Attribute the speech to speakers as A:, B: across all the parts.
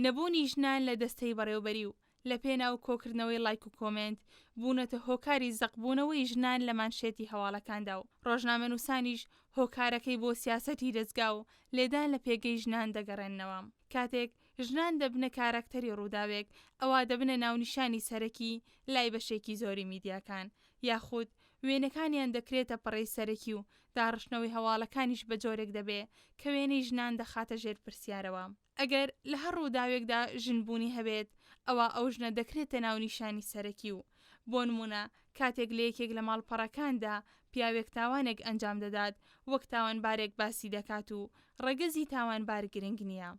A: نەبوونی ژنان لە دەستەی بەڕێوبەری و لە پێناو کۆکردنەوەی ڵایک و کۆمێنت بوونەتە هۆکاری زەق بوونەوەی ژنان لە مانشێتی هەواڵەکاندا و ڕۆژنامەنووسانیش هۆکارەکەی بۆ سیاسەتی دەزگا و لێدان لە پێگەی ژنان دەگەڕێننەوە کاتێک ژنان دەبنە کاراکتەری ڕووداوێک ئەوا دەبنە ناونیشانی سەرەکی لای بەشێکی زۆری میدیاکان یاخود وێنەکانیان دەکرێتە پەڕەی سەرەکی و داڕشتنەوەی هەواڵەکانیش بە جۆرێک دەبێ کە وێنەی ژنان دەخاتە ژێر پرسیارەوە. ئەگەر لە هەر ڕووداوێکدا ژن بوونی هەبێت، ئەوا ئەو ژنە دەکرێتە ناونیشانی سەرەکی و بۆ نموونە کاتێک لە یەکێک لە ماڵپەڕەکاندا پیاوێک تاوانێک ئەنجام دەدات وەک تاوانبارێک باسی دەکات و ڕەگەزی تاوانبار گرنگ نییە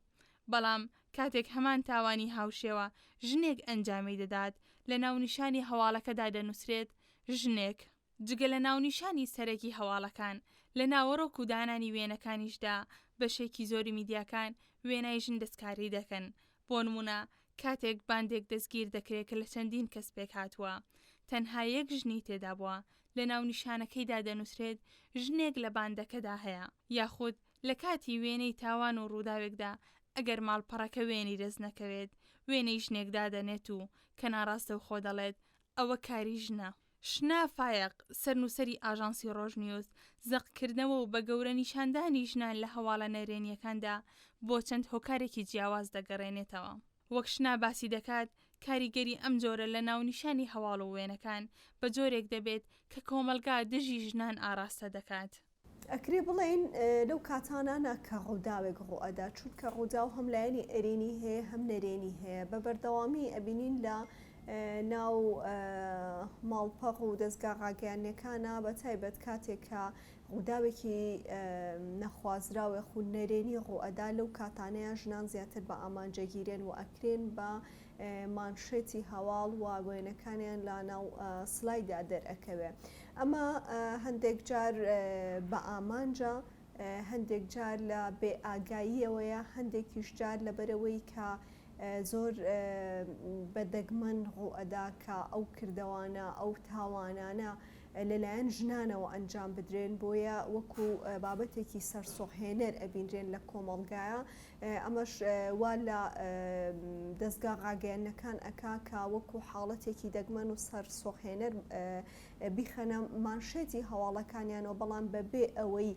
A: بەڵام کاتێک هەمان تاوانی هاوشێوە ژنێک ئەنجامی دەدات لە ناونیشانی هەواڵەکەدا دەنووسرێت ژنێک جگە لە ناونیشانی سەرەکی هەواڵەکان، لە ناوەڕۆک و دانانی وێنەکانیشدا بەشێکی زۆری میدیاکان وێنای ژن دەستکاری دەکەن، بۆ نموونە کاتێک باندێک دەستگیر دەکرێت کە لە چەندین کەس پێکهاتووە، تەنها یەک ژنی تێدا بووە، لە ناونیشانەکەیدا دەنووسرێت ژنێک لە باندەکەدا هەیە. یاخود لە کاتی وێنەی تاوان و ڕووداوێکدا ئەگەر ماڵپەڕەکە وێنەی دەست نەکەوێت، وێنەی ژنێک دادەنێت و کە ناڕاستەوخۆ دەڵێت ئەوە کاری ژنە. شنە فایەق، سەرنووسەری ئاژانسی ڕۆژنیوز، زەقکردنەوە و بە گەورە نیشاندانی ژنان لە هەواڵە نەرێنییەکاندا بۆ چەند هۆکارێکی جیاواز دەگەڕێنێتەوە. وەک شنە باسی دەکات، کاریگەری ئەم جۆرە لە ناونیشانی هەواڵ و وێنەکان بە جۆرێک دەبێت کە کۆمەڵگا دژی ژنان ئاڕاستە دەکات. ئەکرێ بڵێین
B: لەو کاتانانە کە ڕووداوێک ڕوئەدا چونکە ڕووداو هەم لایەنی ئەرێنی هەیە هەم نەرێنی هەیە بە بەردەوامی ئەبینین لە ناو ماڵپەڕ و دەستگا ڕاگەیانەکانە بە تایبەت کاتێکە ڕووداوێکی نەخوازراوێ خو نەرێنی ڕوئەدا لەو کاتانەیە ژنان زیاتر بە ئامانجەگیرێن و ئەکرێن بە مانشێتی هەواڵ و وێنەکانیان لا ناو سلایدا دەرەکەوێ ئەمە هەندێک جار بە ئامانجە، هەندێک جار لە بێ ئاگاییەوەیە، هەندێکیش جار لەبەرئەوەی کە زۆر بە دەگمەن ڕووئەدا کە ئەو کردەوانە، ئەو تاوانانە لەلایەن ژنانەوە ئەنجام بدرێن، بۆیە وەکو بابەتێکی سەرسوڕهێنەر ئەبینرێن لە کۆمەڵگایا، ئەمەش وا لە دەزگا ڕاگەیەنەکان ئەکا کە وەکو حاڵەتێکی دەگمەن و سەرسوڕهێنەر بیخەنە مانشێتی هەواڵەکانیانەوە، بەڵام بەبێ ئەوەی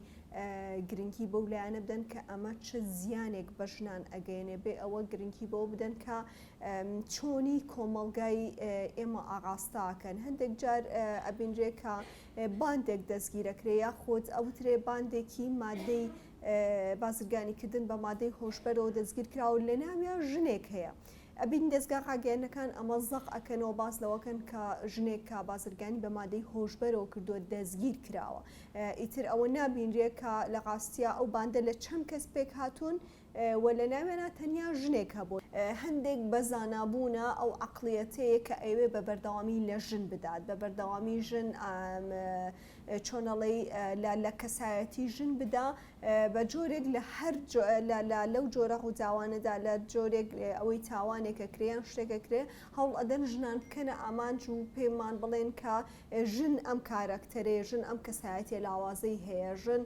B: گرنگی بەو لایەنە بدەن کە ئەمە چ زیانێک بە ژنان ئەگەیەنێ، بێ ئەوە گرنگی بەوە بدەن کە چۆنی کۆمەڵگای ئێمە ئاڕاستە ئەکەن. هەندێک جار ئەبینرێ کە باندێک دەستگیر ئەکرێ یاخود ئەوترێ باندێکی مادەی بازرگانیکردن بە مادەی هۆشبەرەوە دەستگیر کرا و لەناویا ژنێک هەیە. ئەبینی دەزگا ڕاگەیەنەکان ئەمە زەق ئەکەنەوە باس لەوەکەن کە ژنێک کە بازرگانی بە مادەی هۆشبەرەوە کردووە دەستگیر کراوە ئیتر ئەوە نابینرێ کە لە ڕاستیا ئەو باندە لە چەند کەس پێک هاتوون و لە ناویانا تەنیا ژنێک هەبوو هەندێک بە زانا بوونە ئەو عەقڵیەتەیە کە ئەیەوێ بە بەردەوامی لە ژن بدات بە بەردەوامی ژن چۆنەڵی لە لە کەسایەتی ژن بدا بە جۆرێک لە هەر لەو جۆرە ڕووداوانەدا لە جۆرێک ئەوەی تاوانێکە کرێیان شتێکە کرێ هەوڵ ئەدەن ژنان بکەنە ئامانج و پێمان بڵێن کە ژن ئەم کارەکتەرێ ژن ئەم کەسایەتە لاوازەی هەیە ژن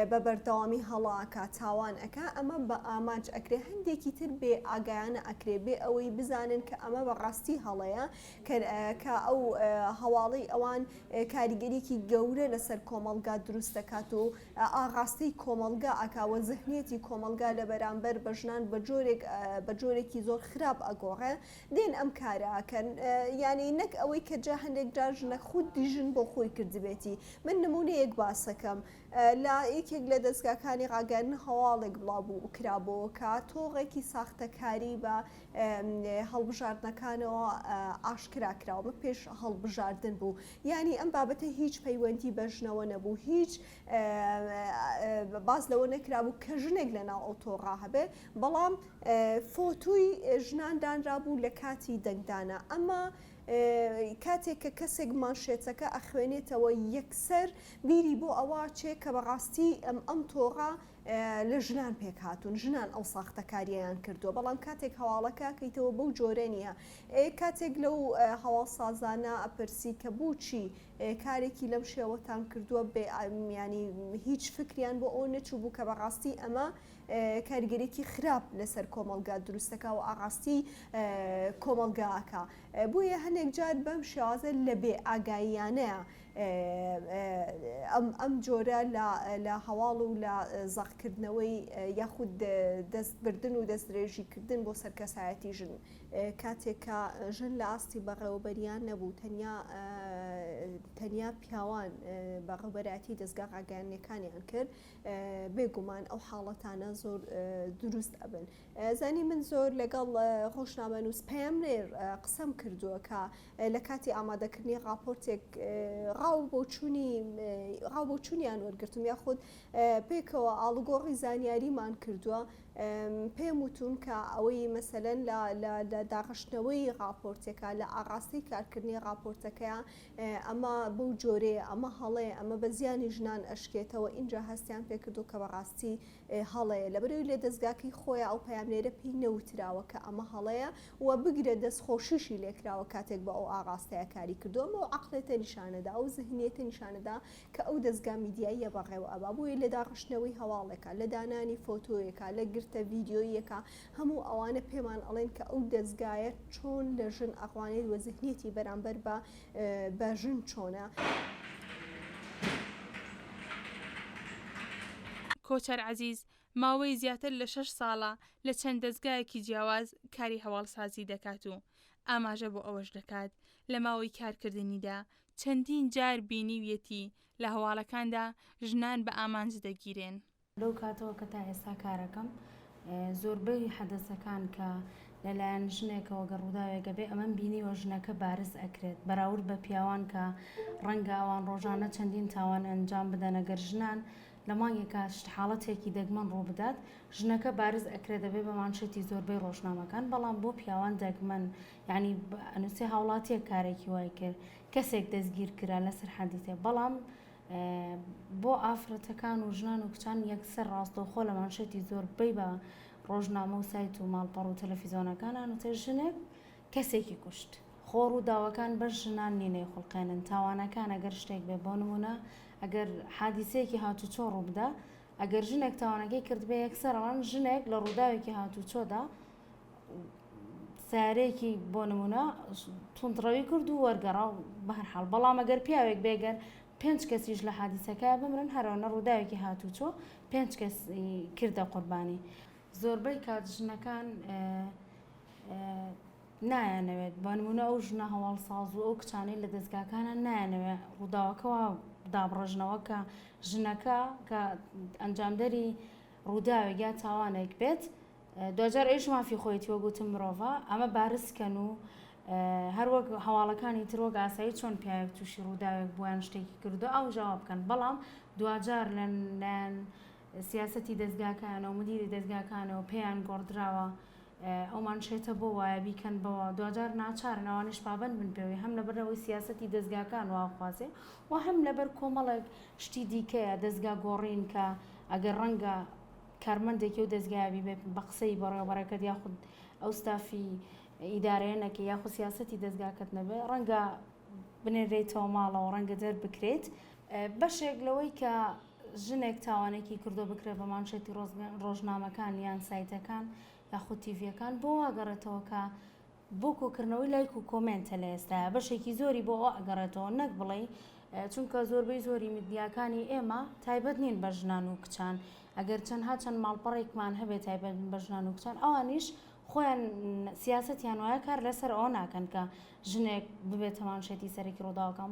B: بە بەردەوامی هەڵاکە تاوان ئەک ئەمە بە ئامانج ئەکرێ هەندێکی تر بێ ئاگایانە ئەکرێ بێ ئەوەی بزانن کە ئەمە بە ڕاستی هەڵەیە کەر کە ئەو هەواڵەی ئەوان کاریگەریەکی گەورە لەسەر کۆمەڵگا دروست دەکات و ئاڕاستەی کۆمەڵگا ئەکا وە زهنیەتی کۆمەڵگا لە بەرامبەر بە ژنان بە جۆرێک بە جۆرێکی زۆر خراپ ئەگۆڕێ دێن ئەم کارە ئەکەن یانی نەک ئەوەی کە جا هەندێک جار ژنە خودی ژن بۆ خۆی کردبێتی من نمونەیەک باسەکەم لە یەکێک لە دەزگاکانی ڕاگەیاندن هەواڵێک بڵاو بوو کرابۆوە کە تۆڕێکی ساختەکاری بە هەڵبژاردنەکانەوە ئاشکرا کرا و پێش هەڵبژاردن بوو، یانی ئەم بابەتە هیچ پەیوەندی بە ژنەوە نەبوو، هیچ باس لەوە نەکرابوو کە ژنێک لەناو ئەو تۆڕە هەبێ، بەڵام فۆتوی ژنان دانرابوو لە کاتی دەنگدانە، ئەمە کاتێک کە کەسێک مانشێتەکە ئەخوێنێتەوە یەکسەر بیری بۆ ئەوە ئەچێ کە بەڕاستی ئەم تۆڕە لە ژنان پێکهاتوون ژنان ئەو ساختەکاریەیان کردووە بەڵام کاتێک هەواڵەکە کەیتەوە بەو جۆرە نییە کاتێک لەو هەواڵ سازانە ئەپرسی کە بچی کارێکی لەم شێوەتان کردووە بێ ئامیانی هیچ فکریان بۆ ئەو نەچوو بوو کە بەڕاستی ئەمە کارگەرێکی خراپ لەسەر کۆمەلگا دروستەکە و ئاڕاستی کۆمەلگاکە بۆیە هەندێک جار بەم شێوازە لە بێ ئاگاییانەیە ئەم جۆرە لە هەواڵ و لە زەقکردنەوەی یاخود دەست بردن و دەستدرێژی کردن بۆ سەر کەسایەتی ژن کاتێک کە ژن لە ئاستی بەڕێوەبەریان نەبوو تەنیا تەنیا پیاوان بە ڕوبەراتی دەستگا ڕاگەیانەکانیان کرد بێگومان ئەو حاڵەتانە زۆر دروست ئەبن زانی من زۆر لەگەڵ ڕۆژنامە نووس پەیام نێر قسەم کردووە کە لە کاتی ئامادەکردنی ڕاپۆرتێک ڕاو بۆچوونی ڕاو بۆچوونیان وەرگرتم یاخود پێکەوە ئاڵوگۆڕی زانیاریمان کردووە پێم وتون کە ئەوەی مەسەلەن لە داڕشتنەوەی ڕاپۆرتەکە لە ئاڕاستی کارکردنی ڕاپۆرتەکەیە ئەمە بەو جۆرێ ئەمە هەڵەیە ئەمە بە زیانی ژنان ئەشکێتەوە ئینجا هەستیان پێکردو کە بەڕاستی هەڵەیە لە بەرەوی لێ دەستگاکەی خۆیان ئەو پامێرە پێی نەوتراوە کە ئەمە هەڵەیە وە بگرە دەست خۆشیشی لێکراوە کاتێک بە ئەو ئاڕاستەیە کاری کردووە ئەمە ئەو عەقڵێتە نیشانەدا ئەو زهنیەتە نیشانەدا کە ئەو دەزگا میدیاییە بەڕێوە ئەبا بۆیە لە داڕشتنەوەی هەواڵێکا لە دانانی فۆتۆیەکا لە گرتە ڤیدیۆییەکا هەموو ئەوانە پێمان ئەڵێن کە ئەو دەزگایە چۆن لە ژن ئەڕوانێت وە زهنیەتی بەرامبەر بە بە ژن چۆنە.
A: کۆچەر عەزیز، ماوەی زیاتر لە شەش ساڵە لە چەند دەزگایەکی جیاواز کاری هەواڵسازی دەکات و ئاماژە بۆ ئەوەش دەکات، لە ماوەی کارکردنیدا چەندین جار بینیویەتی لە هەواڵەکاندا ژنان بە ئامانج دەگیرێن. لەو کاتەوە
C: کە تا ئێستا کارەکەم، زۆربەی حەدەسەکان کە لەلایەن ژنێکەوە گەر ڕووداوێکە بێ ئەمەم بینیوە ژنەکە بارز ئەکرێت بەراورد بە پیاوان کە ڕەنگە ئەوان ڕۆژانە چەندین تاوان ئەنجام بدەن ئەگەر ژنان لە مانگێکا شت حاڵەتێکی دەگمەن ڕووبدات ژنەکە بارز ئەکرێ دەبێ بە مانشێتی زۆربەی ڕۆژنامەکان بەڵام بۆ پیاوان دەگمەن یانی ئەنوسێ هاوڵاتیەک کارێکی وای کرد کەسێک دەستگیر کرا لە سەرحەدی تێ بەڵام بۆ ئافرەتەکان و ژنان و کچان یەکسەر ڕاستەوخۆ لە مانشێتی زۆربەی بە ڕۆژنامە و سایت و ماڵپەڕ و تەلەفیزۆنەکان ئەنوسێ ژنێک کەسێکی کوشت. خۆ ڕووداوەکان بەس ژنان نین ئەیخوڵقێنن، تاوانەکان ئەگەر شتێک بێ بۆ نموونە ئەگەر حادیسەیەکی هاتووچۆ ڕووبدا ئەگەر ژنێک تاوانەکەی کردبێ یەکسەر ئەڵێن ژنێک لە ڕووداوێکی هاتووچۆدا سارێکی بۆ نموونە توندڕەوی کرد و وەرگەڕا و بە هەر حاڵ بەڵام ئەگەر پیاوێک بێگەر پێنج کەسیش لە حادیسەکە بمرن هەرەوە نە ڕووداوێکی هاتووچۆ پێنج کەس کردە قوربانی زۆربەی کات ژنەکان نایانەوێت بە نمونە ئەو ژنە هەواڵساز و ئەو کچانەی لە دەستگاکانە نایانەوێت ڕووداوەکەەوە دابڕژنەوە کە ژنەکە کە ئەنجامدەری ڕووداوێک یا تاوانێک بێت دوجار ئەوش مافی خۆیتی وەگوتم مرۆڤە ئەمە بارزکەن و هەروەک هەواڵەکانی ترۆک ئاسایی چۆن پیاوێک تووشی ڕووداوێک بوویان شتێکی کردو ئەو ژاوا بکەن بەڵام دوجار لەن سیاسەتی دەزگاکەیانە و مدیری دەزگاکانە و پێیان گۆڕدراوە ئەو مانشێتە بۆ وایە بیکەن بەوە، دواجار ناچارن ئەوانیش پابەند بن پێوەی، هەم لەبەر ئەوەی سیاسەتی دەزگاکان وا ئەخوازێ و هەم لەبەر کۆمەڵێک شتی دیکەیە دەزگا گۆڕین کە ئەگەر ڕەنگە کارمەندێکی ئەو دەزگایە بیبێت بە قسەی بەڕێوەبەرەکەت یاخود ئەو ستافی ئیدارەیە نەکەی یاخود سیاسەتی دەزگاکەت نەبێ ڕەنگە بنێرێیتەوە ماڵەوە ڕەنگە دەربکرێیت بەشێک لەوەی کە ژنێک تاوانێکی کردو بکرێت بە مانشێتی ڕۆژنامەکان یان سایتەکان یاخود تیڤیەکان بۆ واگەڕێتەوە کە بۆ کۆکردنەوەی لایک و کۆمێنتە لە ئێستا بەشێکی زۆری بۆ ئەوە ئەگەڕێتەوە نەک بڵێ چونکە زۆربەی زۆری میدیاکانی ئێمە تایبەت نین بە ژنان و کچان ئەگەر چەندها چەند ماڵپەڕێکمان هەبێت تایبەت بە ژنان و کچان ئەوانیش خۆیان سیاستیان وایە کار لەسەر ئەو ناکەن کە ژنێک ببێت تەمامشێتی سەرەکی ڕووداوەکەم.